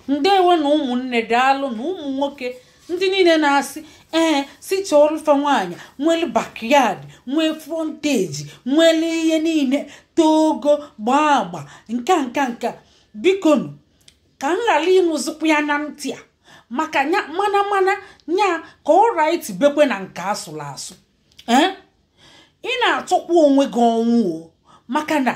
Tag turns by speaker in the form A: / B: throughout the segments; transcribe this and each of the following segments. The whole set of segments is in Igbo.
A: ndewo nụ ụmụnne daalụ nụ ụmụ nwoke ndị niile na-asị ee sị chọọrụ fa nwaanyị nwere backyard nwee frontage nwere ihe niile too ogo gbaa agba nke a nke a nke a bikonu ka m ghara ịnụzikwa ya na ntị a maka mana mana nya ka ọ right bekwe na nke asụrụ asụ ee ị na-achọkwa onwe gị ọnwụ o maka na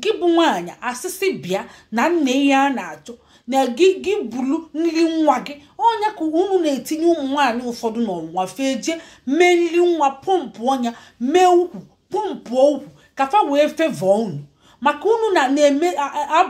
A: gị bụ nwaanyị a sị sị bịa na nna ihe a na-achọ na gị bụ nri nwa gị ọ nya ka unu na-etinye ụmụ nwaanyị ụfọdụ n'ọnwụnwa fa ejee mee nri nwa pọmpụọ nya mee ukwu pọmpụ ukwu ka fa wee favour unu maka unu na na-eme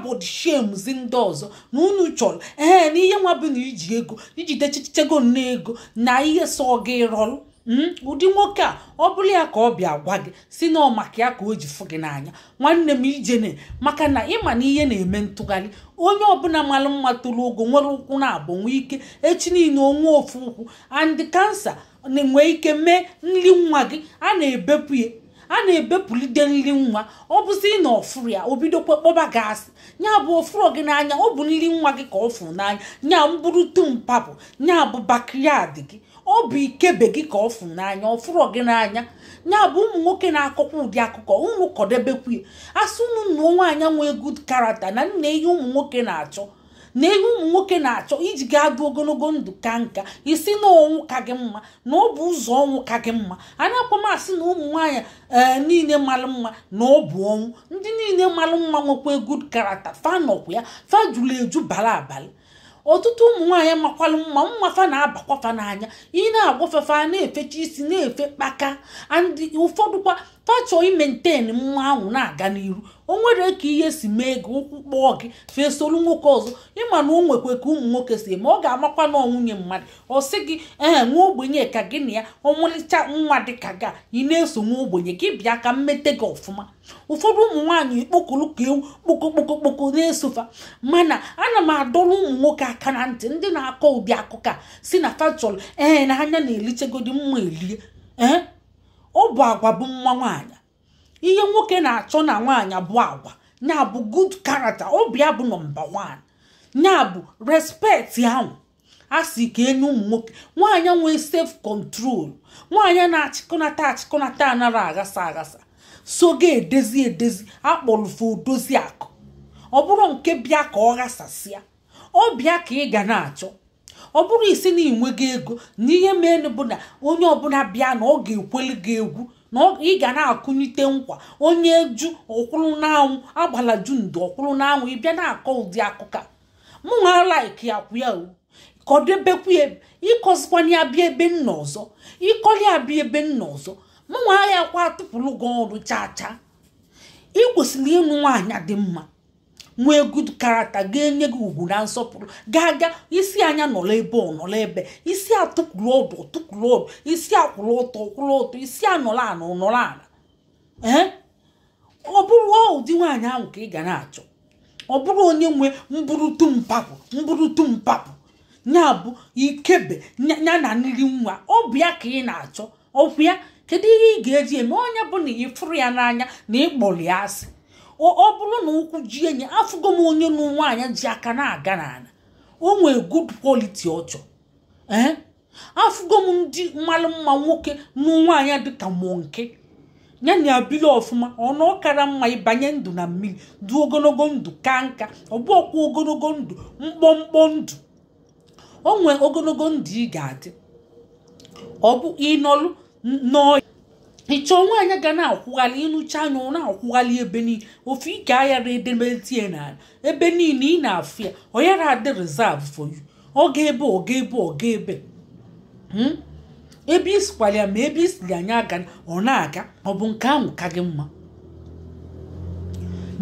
A: body shamezi ndị ọzọ na unu chọrọ ee na ihe nwa bụ na iji ego ijide chichego nne ego na ihe sọ gị rọrụ Hmm? ụdị nwoke a ọ bụrụ ya ka ọ bịa gwa gị sị na ọ maka ya ka o ji fụ gị n'anya nwanne m ijene maka na ị ma na ihe na-eme ntụgharị onye ọbụla mara mma toro ogo nwere ụkwụ naabọ nwee ike echi niile o nwee ofu ụkwụ and cancer nwee ike mee nri nwa gị a na-ebepụ ya a na-ebepụlide nri nwa ọ bụzi na ọ fụrụ ya o bidokwa kpọba gị asị nya bụ ọ fụrọ gị n'anya ọ bụ nri nwa gị ka ọ fụrụ n'anya nya mbụrụ tumpa bụ nya bụ backyard gị ọ bụ ikebe gị ka ọ fụrụ n'anya ọ fụrọ gị n'anya nya bụ ụmụ nwoke na-akọkwa ụdị akụkọ unu kọdebekwa ya a sị unu na nwaanyị nwee good character na nne ihe ụmụ nwoke na-achọ na ihe ụmụ nwoke na-achọ iji ga-adị ogologo ndụ kaa nka ị sị na ọnwụ ka gị mma na ọ bụ ụzọ ọnwụ ka gị mma anaakwa m asị na ụmụ nwaanyị ee eh, niile mara mma na ọ bụ ọnwụ ndị niile mara mma nwekwa good character fa nọkwa ya fa juru eju bara abara ọtụtụ ụmụ nwaanyị makwalụ mma mma fa na-abakwa fa n'anya ị na-agwa fa fa na-efecha isi na-efe kpaka and ụfọdụkwa fa chọọ imaintain mma ahụ na-aga n'iru o nwere ka ihe si mee gị ụkwụ kpọọ gị fesolu nwoke ọzọ ị ma na o nwekwe ka ụmụ nwoke si eme ọ ga-amakwa na ọ nwunye mmadụ ọ sị gị ee nwa ogbenye ka gị na ya ọmalịcha nwa dị ka gị ị na-eso nwa ogbenye gị bịa ka m mete gị ọfụma ụfọdụ ụmụ nwaanyị kpokoro ka ewu kpokokpokokpoko na-eso fa mana ana m adọrọ ụmụ nwoke aka na ntị ndị na-akọ ụdị akụkọ a sị na fa chọrọ ee na anya na-elichegodi mma elie ee ọ bụ agwa bụ mma nwaanyị ihe nwoke na-achọ na nwaanyị bụ agwa nya bụ good character ọ bụ ya bụ nọmba one nya bụ respect ahụ a sị ka e nye ụmụ nwoke nwaanyị nwee self control nwaanyị na-achịkọnata achịkọnata anara aghasa aghasa sọ ga-edezi edezi a kpọrọ fa odozi akụ ọ bụrụ nke bịa ka ọ ghasasịa ọ bụ ya ka ị ga na-achọ ọ bụrụ ị sị na ị nweghị ego na ihe mere bụ na onye ọbụla bịa na ọ ga-ekweli gị egwu na ị ga na-akụnite nkwa onye jụ ọ kwụrụ n'anwụ agbala jụ ndo ọ kwụrụ n'anwụ ị bịa na-akọ ụdị akụkọ mụ nwa like akwụ ya o kọdebekwu ya ị kọzikwana ya bịa ebe m nọ ọzọ ị kọli ya bịa ebe m nọ ọzọ mụ nwa ya kwa atụpụrụ gị ọrụ chaa chaa ị kwesịrị ịnụ nwaanyị dị mma nwee good character ga-enye gị ugwu na nsọpụrụ ga-aga ị sị ya nya nọrọ ebe ọ nọrọ ebe ị sị ya tukwuru ọdụ o tukwuru ọdụ ị sị ya kwụrụ ọtọ ọ kwụrụ ọtọ ị sị ya nọrọ ala ọ nọrọ ala ee ọ bụrụ ụdị nwaanyị ahụ ka ị ga na-achọ ọ bụrụ onye nwe mburutu mpapụ mburutu mpapụ nya bụ ikebe ya na nri nwa ọ bụ ya ka ị na-achọ okwu ya kedu ihe ị ga-eji eme onye bụ na ị fụrụ ya n'anya na ị kpọrọ ya asị ọ bụrụ na ụkwụ ji enyi afụgo m onye nụ nwaanyị ji aka na-aga n'ala o nwee good quality ọ chọ ee eh? afụgo m ndị malụ mma nwoke nụ nwaanyị dịka monkey ya na a bili ọfụma ọnụ ọkara mma ị banye ndụ na mmiri du ogologo ndụ ka nka ọ bụ ọkwa ogologo ndụ mkpọmkpọ ndụ o nwee ogologo ndụ ị ga-adị ọ bụ ị nọlụ n'ọya ị chọ nwaanyị ga na-akwụghalị ị nụcha ya ọ na-akwụghalị ebe niile ofu ike ayara edemeti ya n'ala ebe niile ị na-afụ ya ọ yara adị reserve for you ọ ga ebe ọ ga ebe ọ ga ebe Hmm? ebe ị sikwara ya ma ebe ị siri ya nya agana ọ na-aga ọ bụ nke ahụ ka gị mma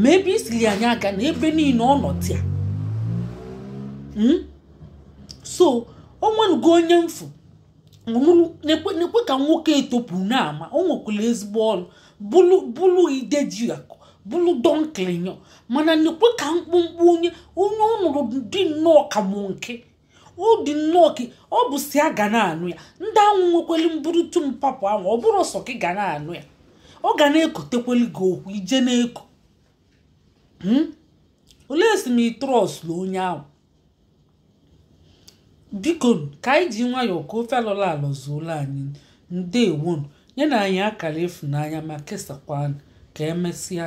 A: ma ebe ị siri ya nya agana ebe niile ọ nọtịa hmm? so o nwenugo onye m fụ nekwe ka nwoke etopụ n'ama o nwekwara ezigbo ọrụ bụlụ ide ji akụ bụlụ donkilinyo mana nekwe ka mkpụmkpụ onye onye ọ nụrụ dị nnọọ ka monkey ọ dị nnọọ ka ọ bụ sọ ya ga na-anụ ya ndị ahụ nwekweli mburutu mpapụ ahụ ọ bụrụ sọ gị ga na-anụ ya ọ ga na-ekotekweli gị okwu ije na-eko hmm? olee si m ị trust na onye ahụ biko ka anyị ji nwayọọ ka ofe alọla alọ zuolu anyị ndewo nụ nyenụ anyị akara ịfụnanya ma kesakwa ka emesịa